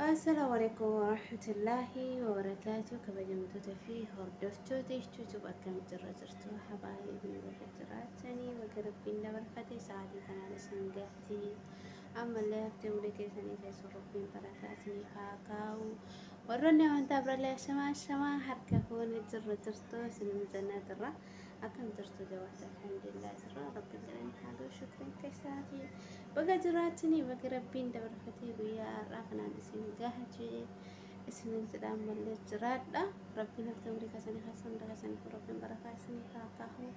Assalamu alaikum warahmatullahi wabarakatuh kabajamtoota fi hordoftoota YouTube akkam jirra jirtu habaayee biyya bakka jiraatanii bakka rabbiin dabarfate sa'aatii kanaan isin gahti ammallee haftee ulee keessanii keessa rabbiin barakaa isinii haa kaa'u warroonni amantaa birallee ashamaa ashamaa harka fuune jirra jirtu isin jannaa jirra Akkam jirtu jawaata alhamdulillah jirra rabbiin galanni haa ga'u shukriin keessaati. Baga jiraachanii baga rabbiin dabarfatee guyyaa har'aa kanaan isin gaha jee isinin jedhaan mallee jiraadha. Rabbiin hafte umrii keessanii keessa hunda keessaniif rabbiin barakaa isiniif haa kaahu.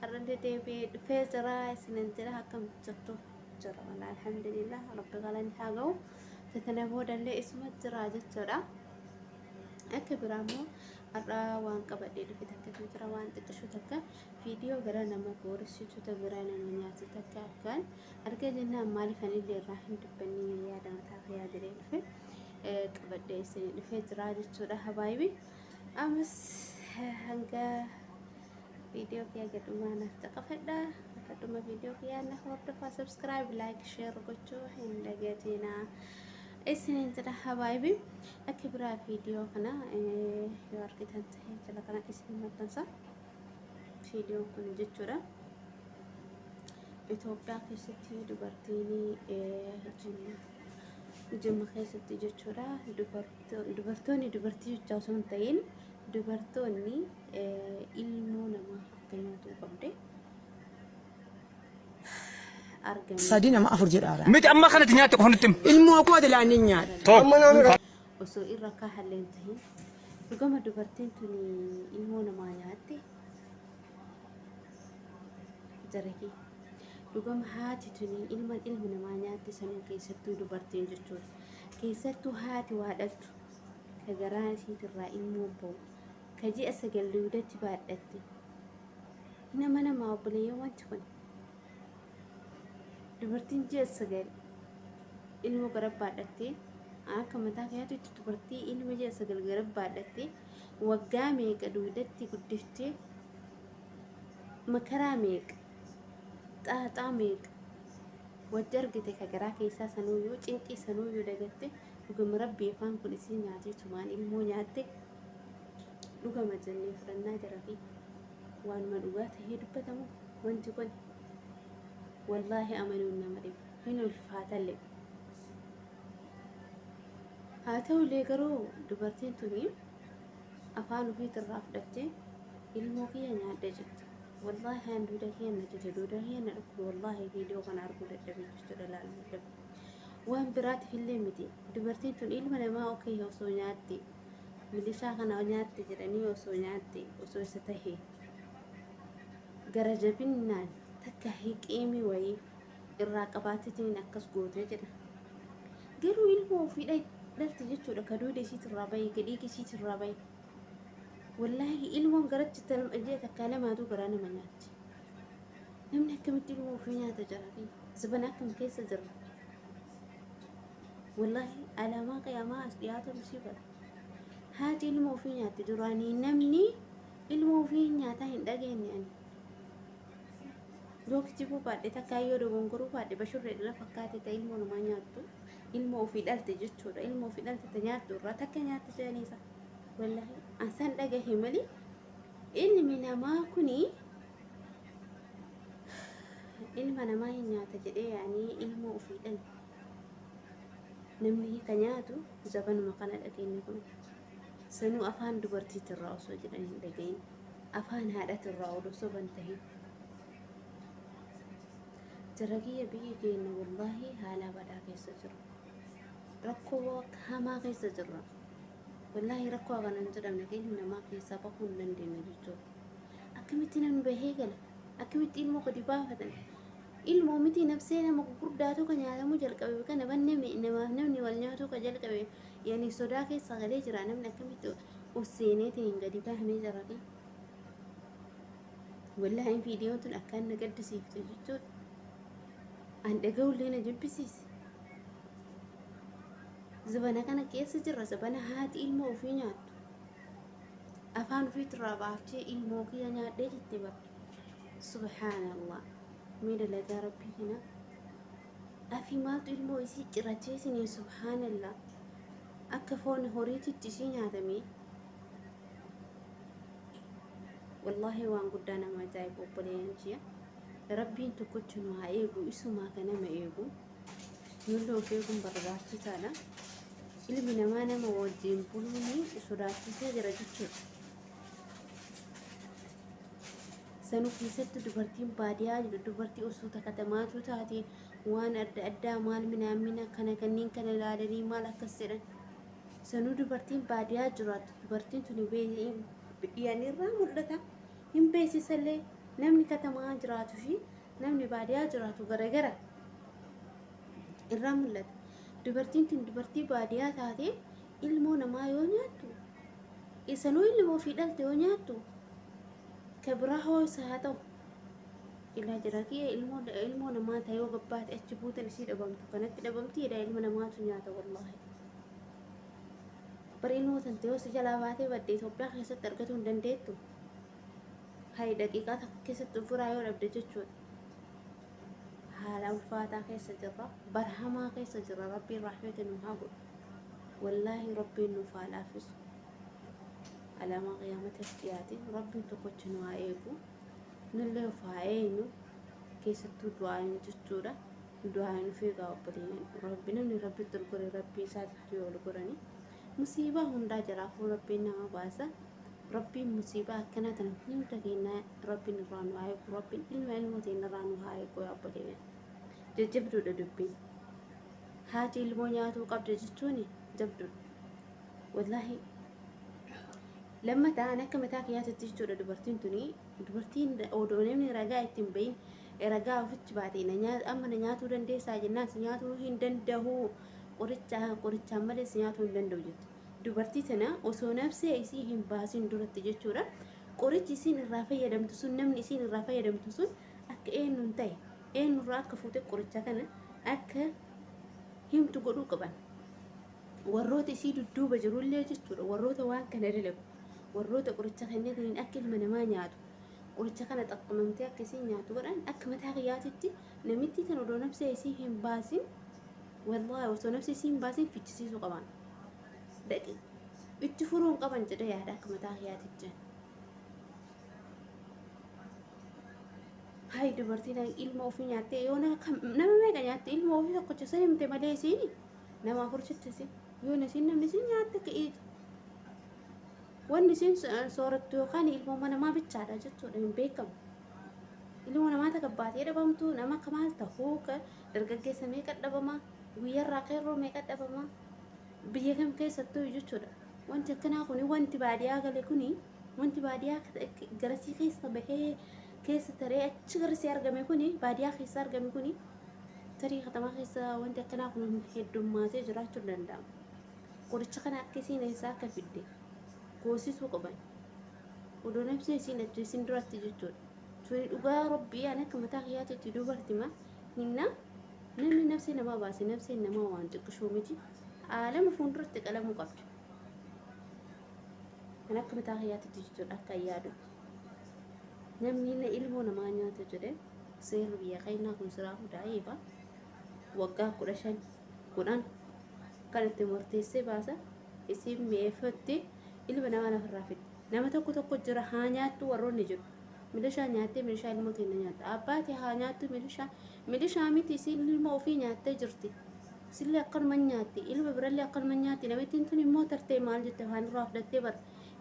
Har'allee deebi'ee dhufee jira isinin jedha akkam jirtu jira walaa alhamdulillah rabbi galanni haa ga'u. Fitana boodallee isuma jira jechuudha. Akka biraa immoo Har'a waan qabadhee dhufe takkatu jira waan xiqqishu takka viidiyoo gara nama booressitu ta biraa nama nyaatu takka akkaan arga jennaan maaliif anillee irraa hin dubbanne yaada mataa kiyyaa jedhee dhufe qabadhee isin dhufee jira jechuudha habaayibi amas hanga viidiyoo kiyyaa gadhumaa naaf caqafadha akka dhuma viidiyoo kiyyaa na hordofaa sabskiraayib laayik sheer gochuu hin dagatinaa isiniin jedha habaayibi Akka biraa viidiyoo kana yoo argitan ta'e jala kana isin maxxansa. Viidiyoon kun jechuudha. Itoophiyaa keessatti dubartiin jimma keessatti jechuudha dubartoonni dubartii jechaa osoo hin ta'in dubartoonni ilmoo namaa akka nyaatuu qabde. argame Sadii nama afur jedhaara. Miti amma kanatti nyaatte qofa nutti himi. Ilmoo koo dilaa ni nyaadha. Too. osoo irra akka halleen tahin dhugama dubartiin tun ilmoo namaa nyaatte jarake dhugama haati tun ilma ilmi namaa nyaatte sanuu keessattuu dubartiin jechuudha keessattuu haati waa dhaltu ka garaa isiitirraa ilmoo ba'u ka ji'a sagal duudatti baadhatte Nama namaa obboleeyyan wanti kun. Dubartiin ji'a sagal ilma garabbaadhattee akka mataa keetiitti dubartii ilma ji'a sagal garabbaadhattee waggaa meeqa duudatti guddiftee makaraa meeqa xaaxaa meeqa wajji argite ka garaa keessaa sanuuyyuu cinqii sanuuyyuu dagatte dhugama rabbii afaan kun isiin nyaatee tumaan ilmoo nyaatte. dhugama jennee fudhannaa jira fi waanuma dhugaa ta'ee dubbatamu wanti kun wallaahi amanuun nama dhiba hin ulfaatalle haa ta'ullee garuu dubartiin tuni afaan ofiitirraa fudhattee ilmoo kiyya nyaadhe jette wallaahi aan duuda kiyya na jete duuda kiyya na dhukkuba wallaahi viidiyoo kana arguu dadhabee jechuudha laaluu dadhabe waan biraatiif illee miti dubartiin tun ilma namaa okee osoo nyaatte Milishaa kana nyaatte jedhanii osoo nyaatte osoo isa tahe gara jabinnaan takka hiqiimii wayii irraa qabaatitiniin akkas goote jedha. Garuu ilmoo ofii dhalte jechuudha ka duuda isiitirraa bahe ka dhiigi isiitirraa bahe. Wallaahi ilmoon garatti ji'a takkaa lamaatu garaa nama nyaatti. Namni akkamitti ilmoo ofii nyaata jiraate? Zabana akkam keessa jirra? Wallahi alaamaa qiyaamaa as dhiyaatu sii godha. Haati ilma ofii nyaatti duraanii namni ilma ofii nyaataa hin dhageenye ani. Yoo kijibuu baadhe takkaa yoo dogongoruu baadhe bashurree dhira fakkaate ta ilmoo namaa nyaattu ilma ofii dhalte jechuudha ilma ofii dhalte ta nyaattu irraa takka nyaatti jedhaniisa. Wallahi an san dhagahe malee ilmi namaa kunii ilma namaa hin nyaata jedhee yaanii ilmoo ofii dhalte. namni hiika nyaatu zabanuma kana dhageenye kun sanuu afaan dubartiitirraa osoo jedhan hin dhagayin afaan haadhatirraa odoo soban tahin jaragiyya biyyi keenya wallaahi haalaa badaa keessa jira rakkoo hamaa keessa jirra wallaahi rakkoo kana hin jedhamne keenya namaa keessaa bahuu hin dandeenye jechuudha akkamitti namni bahee gala akkamitti ilmoo gadi baafatan Ilmoo mitii nabsee nama gugurdaatu ka nyaatamu jalqabe bika nabanne me namaaf namni wal nyaatuu ka jalqabe yani sodaa keessa galee jira namni akkamitti us seeneeti hin gadi bahnee jarati wallaahi viidiyoon tun akkaan na gaddisiifte jechuudha an dhaga'ullee na jibbisiise zabana kana keessa jirra zabana haati ilmoo ofii nyaattu afaan ofiitirraa baaftee ilmoo kiyya nyaadhee jette bara Subhaanallah. Mee dalagaa rabbii kana. Afi maaltu ilmoo isii cirachee isinii subhaanallah. Akka foon horiititti isii nyaatamee. Wallaahi waan guddaa nama ajaa'ibu obboleeyyan ji'a. Rabbiin tokkocha nu haa eegu isumaa ka nama eegu. Nullee of eeguun barbaachisaadha. Ilmi namaa nama wajjin buluun sodaachisee jira jechuudha. sanuu keessatti dubartiin baadiyaa dubartii osoo takka damaatu taate waan adda addaa maal minaamina kana kanneen kana ilaalanii maal akkas jedhan sanuu dubartiin baadiyaa jiraattu dubartiin tuni biyyaanirraa mul'ata hin beeksisallee namni katamaa jiraatu fi namni baadiyaa jiraatu garagara irraa mul'ata dubartiin tun dubartii baadiyaa taate ilmoo namaa yoo nyaattu isanuu ilmoo ofii dhalte yoo nyaattu ka biraa hoo isa haa ta'u ilaa jira kiyya ilmoo ilmoo namaa ta'e yoo gabbaate achi buutan isii dhabamtu kanatti dhabamti jedha ilma namaatu nyaata wallaahi bari ilmoo tante yoo si jalaa baatee badde Itoophiyaa keessatti argatuu hin dandeettu hayi daqiiqaa takka keessatti ofirraa yoo dhabde jechuudha haala ulfaataa keessa jirra barhamaa keessa jirra rabbiin rahmata nu haa godhu wallaahi rabbiin nuuf haa laaffisu alaamaa qiyaamata dhiyaate rabbiin tokkocha nu haa eegu nullee of haa eegnu keessattuu du'aayin jechuudha du'aayin of eegaa obboleeyyan rabbi namni rabbitti ol gore rabbii isaatti ol goranii musiibaa hundaa jalaafuu rabbiin nama baasa rabbiin musiibaa akkanaa tana hunda kennaa Rabbiin irraa nu haa eegu. Rabbiin ilma ilmoo teenya irraa nu haa eegu yaa obboleeyyan. Jajjabduudha dubbiin. Haati ilmoo nyaatuu qabda jechuun jabduudha. Wallaahi lammataan akka mataa kiyyaatitti jechuudha dubartiin tuni dubartiin odoo namni ragaa ittiin bahin ragaa ofitti baate amma na nyaatuu dandeessaa jennaan si nyaatuu hin danda'u qorichaa qorichaan malee si nyaatuu hin danda'u jetti. dubartii tana osoo nabsee isii hin baasin duratti jechuudha qorichi isiin irraa fayyadamtu sun namni isiin irraa fayyadamtu sun akka eenyuun ta'e eenyurraa akka fuute qoricha kana akka himtu godhuu qaban warroota isii dudduuba jirullee jechuudha warroota waan kana dalagu warroota qoricha kennataniin akka ilma namaa nyaatu qoricha kana xaqqamamtee akka isiin nyaatu godhan akka mataa kiyyaatitti namittii tan odoo nabsee isii hin baasin Wallahi osoo nafsi isii hin baasin fichisiisuu qaban. Daqi itti furuun qaban jedhee yaada akka mataa kiyaatiif jedhan. Hayi dubartiin ilma ofii nyaattee yoo nama meeqa nyaatte ilma ofii tokkocha isa himte malee isiin nama afur jettisi yoo isiin namni isiin nyaatte ka'iiti. Wanni isiin soorattu yookaan ilmooma namaa bichaadha jechuudha hin beekamu. Ilmoo namaa takka baatee dhabamtu nama akka maal ta'uu Dargaggeessa meeqa dhabamaa? Guyyarraa qeerroo meeqa dhabamaa? Biyya kam keessattuu jechuudha. Wanti akkanaa kuni wanti baadiyaa gale kuni wanti baadiyaa garasii keessa bahee keessa taree achi garasii argame kuni baadiyaa keessa argame kuni tarii katamaa keessa wanti akkanaa kun heddummaatee jiraachuu danda'a. Qoricha kana akka isiin eessaa akka fidde goosisuu qaban. Odoo nabsee isiin ajjeesin duratti jechuudha. Tuni dhugaa rabbii ani akka mataa kiyyaatitti dubartima. Hinna namni nafsee namaa baase nafseen namaa waan xiqqishoo miti aalama fuulduratti qalamuu qabdi. Kan akka mataa kiyyaatitti jechuudha akka yaadu. Namni inni ilmoo namaa nyaatu jedhe seerri biyya keenyaa kun siraa hundaa eeba waggaa kudha shan kudhan kan itti murteessee baasa isin mi'eeffatti ilma namaa lafarraa fidde. Nama tokko tokko jira haa nyaattu warroonni jiru. Milishaa nyaattee milishaa ilmoo teenna nyaatta. Abbaa tee haa nyaattu milishaa. Milishaa miti isiin ilmoo ofii nyaattee jirti. Isillee akkanuma hin nyaatti. Ilma birallee akkanuma hin nyaatti. Namittiin tun immoo tartee maal jette afaan irraa fudhattee bar.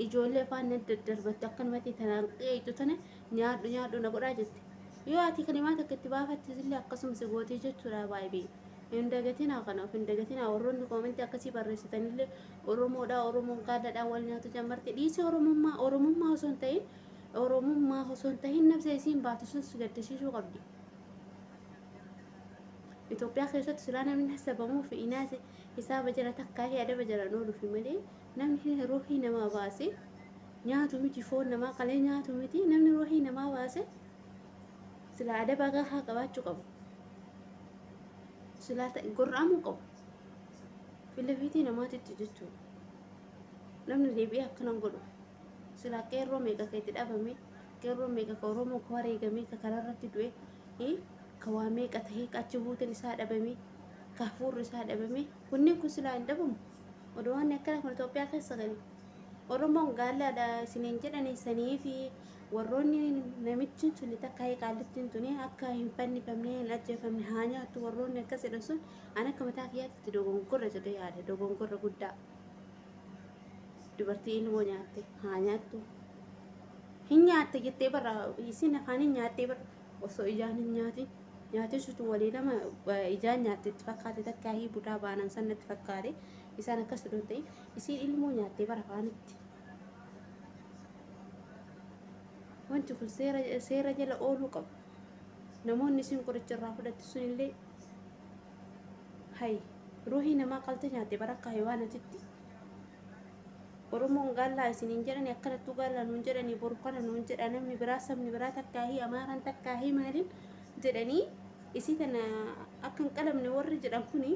Ijoollee afaan na daddarbatte akkanumatti tanaan qeeyxu tana nyaadhu nyaadhu na godhaa jette. Yoo ati kalimaa takka itti baafatte isillee akkasuma si gootii jechuudha baay'ee. Hin dagatinaa kana of hin dagatinaa warroonni koomentii akkasii barreessitanillee Oromoodhaa Oromoon gaalladhaa wal nyaatu jammarti dhiisii Oromummaa Oromummaa osoo hin ta'in Oromummaa osoo hin tahin nafsee isiin baatu sun si gaddisiisuu qabdi. Itoophiyaa keessatti silaa namni hasabamuu fi inaase hisaaba jala takkaa fi adaba jala ooluufi malee namni ruuhii namaa baase nyaatu miti foon namaa qalee nyaatu miti namni ruuhii namaa baase silaa adaba gahaa qabaachuu qabu. Silaa gorra'amuu qabu. Filafiitii namaatitti jechuudha. Namni deebi'ee akkanan godhu. Silaa qeerroo meeqa ka itti dhabame, qeerroo meeqa ka Oromoo ka wareegamee, ka karaa irratti du'e, eh, ka waa meeqa tahee, ka achi buuteen isaa dhabame, ka hafuurri isaa dhabame, kunniin kun silaa hin dhabamu. Odoo waan akkana kun Itoophiyaa keessa gale. Oromoon gaallaadha isiniin jedhanii sanii fi warroonni namichi tuni takka qaallittiin tuni akka hin fannifamne hin ajjeefamne haa nyaattu warroonni akkas jedhan sun an akka mataa kiyyaatti itti dogongorra jedhee yaada dogongorra guddaa. Dubartii ilmoo nyaatte haa nyaattu. Hin nyaatte jettee barra isin afaan hin nyaattee barra osoo ijaan hin nyaatin nyaatin sutu walii nama eh, ijaan nyaatte itti fakkaate takkaa hii budaa baanan san natti fakkaate isaan akkas odoo hin ta'in isiin ilmoo nyaattee bara afaanitti. Wanti kun seera seera jala ooluu qaba. Namoonni isin qoricha irraa fudhatte sun illee hayi ruuhii namaa qalte nyaatte bara akka hayiwaanatitti. Oromoon gaallaa isiniin jedhani akkanattuu gaallaa nuun jedhani boru kana nuun jedha namni biraa sabni biraa takkaahii amaaraan takkaahii maaliin jedhanii isii tana akka hin qalamne warri jedhan kuni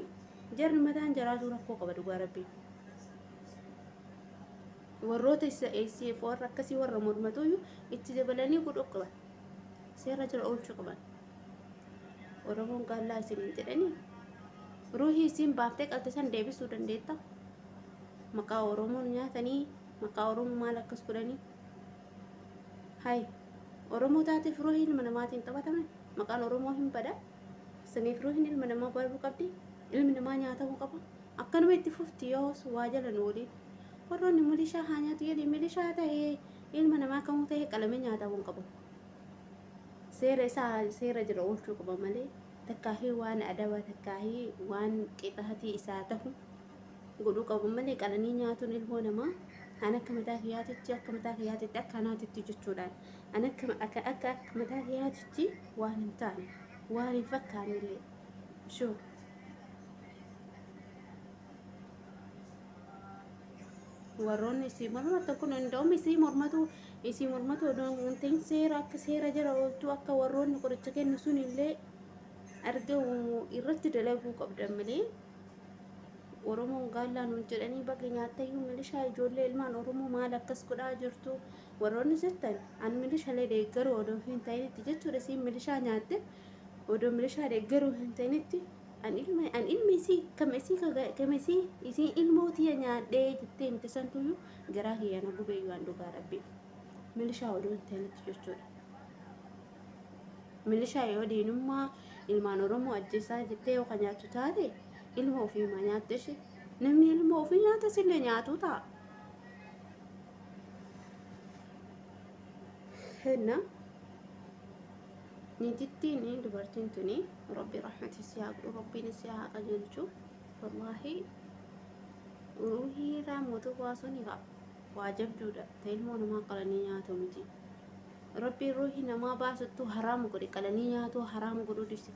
jarri mataan jaraatu rakkoo qaba dhugaa rabbii. Warroota isa ACF warra akkasii warra mormatuyyuu itti dabalanii godhuu qaban. Seera jala oolchuu qaban. Oromoon gaallaa isin hin jedhanii? Ruuhii isiin baaftee qalte san deebisuu dandeetta? Maqaa Oromoon nyaatanii maqaa Oromoo maal akkas godhanii? Hay Oromoo taateef ruuhii ilma namaatiin taphataman maqaan Oromoo hin bada. Saniif ruuhiin ilma namaa baduu qabdi. Ilmi namaa nyaatamuu qaba. Akkanuma itti fufti yoos waa jala nu waliin. Warroonni milishaa haa nyaatu jedhee milishaa ta'ee ilma namaa kamuu ta'ee qalamee nyaatamuu hin qabu. seera isaa seera jira oolchuu qaba malee takkaahii waan adabaa takkaahii waan qixaatii isaa tahu godhuu qabu malee qalanii nyaatuun ilmoo namaa an akka mataa kiyyaatitti akka mataa kiyyaatitti akka anaatitti jechuudhaan an akka akka akka akka mataa kiyyaatitti waan hin taane waan hin fakkaanne illee shuu warroonni isii mormatan kun hunda'um isii mormatu isii mormatu odoo hin ta'in seera akka seera jala ooltuu akka warroonni qoricha kennu sun illee argamu irratti dalaguu qabdan malee oromoon gaallaa nuun jedhanii baga nyaattayyuu milishaa ijoollee ilmaan oromoo maal akkas godhaa jirtu warroonni jettan an milishalee deeggaruu odoo hin ta'initti jechuudha isiin milishaa nyaatte odoo milishaa deeggaruu hin ta'initti an ilma an ilma isii kam isii kam isii isii ilmoo tiya nyaadhee jettee miti santuyyuu garaa kiyya na gubee waan dhugaa rabbii milishaa oduu hin ta'initti jechuudha. Milishaa yoo diinummaa ilmaan Oromoo ajjeesaa jettee yoo kan nyaattu taate ilma ofii ma nyaatte ishee namni ilma ofii nyaata sillee nyaatuu ta'a. Henna. Niitittiin dubartiin tuni rabbi rahmata isii haa godhu rabbiin isii haa qajeelchu wallaahi ruuhii irraa mootuu baasuun gaa waa jabduudha ta ilmoo namaa qalanii nyaatu miti rabbiin ruuhii namaa baasuttuu haraama godhe qalanii nyaatuu haraama godhuu dhibse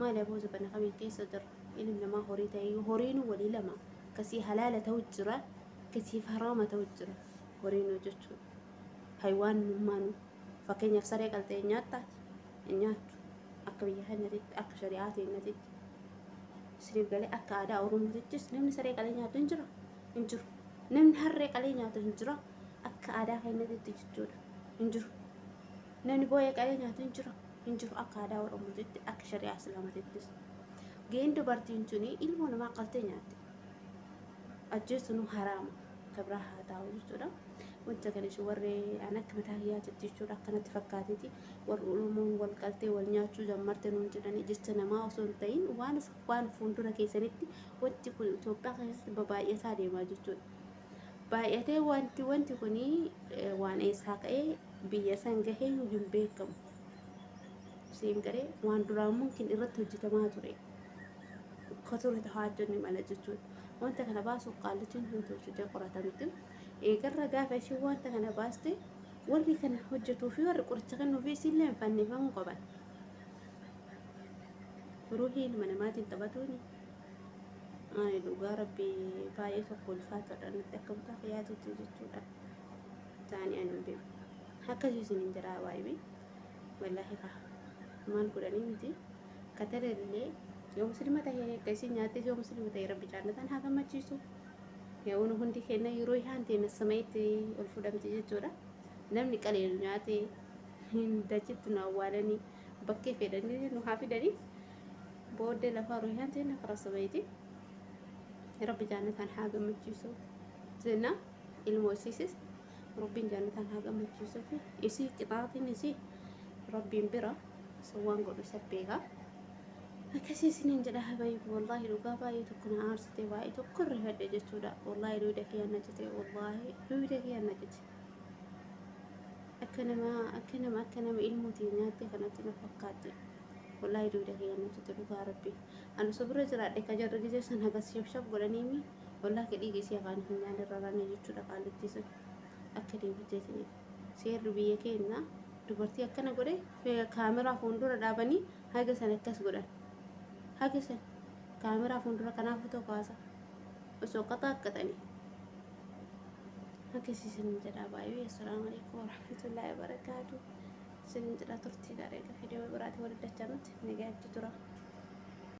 maali aboo zabana kamiin keessa jirra ilmi namaa horii ta'ee horiinu walii lama kasii halaala ta'u jira kasiif haraama ta'u jira horiinu jechuudha haywaan nummaanuu Fakkeenyaaf saree qaltee hin nyaattaati? Hin nyaattu. Akka biyya keenyatitti, akka shari'aa teenyatitti, isiniif galee akka aadaa Oromootittis namni saree qalee nyaatu hin jira? Hin jiru. Namni harree qalee nyaatu hin jira? Akka aadaa keenyatitti jechuudha. Hin jiru. Namni booyee qalee nyaatu hin jira? Hin jiru. Akka aadaa Oromootitti, akka shari'aa Islaamatittis. Gaheen dubartiin tuni ilmoo namaa qaltee nyaatte. Ajjeesuun haraama. kabraa haa taa'u jechuudha. Wanta kana ishee warri an akka mataa hiyyaatitti jechuudha akkanatti fakkaatiti warri Oromoon wal qaltee wal nyaachuu jammarte nuun jedhanii jecha namaa osoo hin ta'in waan waan fuuldura keessanitti wanti kun Itoophiyaa keessatti babaay'ataa deemaa jechuudha. Baay'atee wanti wanti kun waan eessaa ka'ee biyya san gahee hin beekamu. Siin garee waan duraan mumkin irratti hojjetamaa ture. ka ture ta haajjonni mala jechuudha. Wanta kana baasuuf qaallitiin hin tolchitee qoratamti. Eegarra gaafa ishiin wanta kana baaste warri kana hojjetuu fi warri qoricha kennuufi isiillee hin fannifamuu qaban. Ruuhii ilma namaatiin taphatuun ani dhugaa rabbii baay'ee tokko ulfaataadha nutti akka mutaa fayyaatutti jechuudha. Taa'anii ani hin beeku. Akkasii isin hin jedhaa waayee. Wallaahi kaa maal godhanii miti. Katara illee yoo muslima ta'e akka isin nyaattes yoo muslima ta'e rabbi jaannataan haa gammachiisu. Yaa'uun hundi kenna yeroo isaan teenya sama'itti ol fudhamti jechuudha. Namni qaliilu nyaate dachitti nu awwaalanii bakkee fedhanii nu haa fidanii booddee lafaa ruuhaan teenya karaa sama'itti rabbi jaannataan haa gammachiisu jenna ilmoo isiisis Rabbiin jaannataan haa gammachiisu fi isii qixaatiin isii rabbiin bira sun waan godhu isa beeka. Akkasii isiniin jedha habayiif wallaahi dhugaa baay'ee tokko na aarsite baay'ee tokko irra fedhe jechuudha. Wallaahi duwida kiyya na cite wallaahi duwida kiyya na cite. Akka nama akka nama akka nama ilmootiin nyaatte kanatti na fakkaatte. Wallaahi duwida kiyya na cite dhugaa rabbi. Ani osoo bira jiraadhe ka jarri gisee san hagas shabshab godhaniimi. ollaa kee dhiiga isii afaan hin nyaane irra rane jechuudha qaallittii sun akka deebiteetiniif seerri biyya keenya dubartii akkana godhe kaameraa fuuldura dhaabanii haga san akkas godhan haga san kaameraa fuuldura kanaaf fotoo kaasa osoo qaxaaqqaxanii haga siisin jedhaa baay'ee assalaamu alaikum warahmatullaahi wabarakaatu sinin jedhaa turtii gaariidha fidee biraati walitti dachanutti nagaatti tura.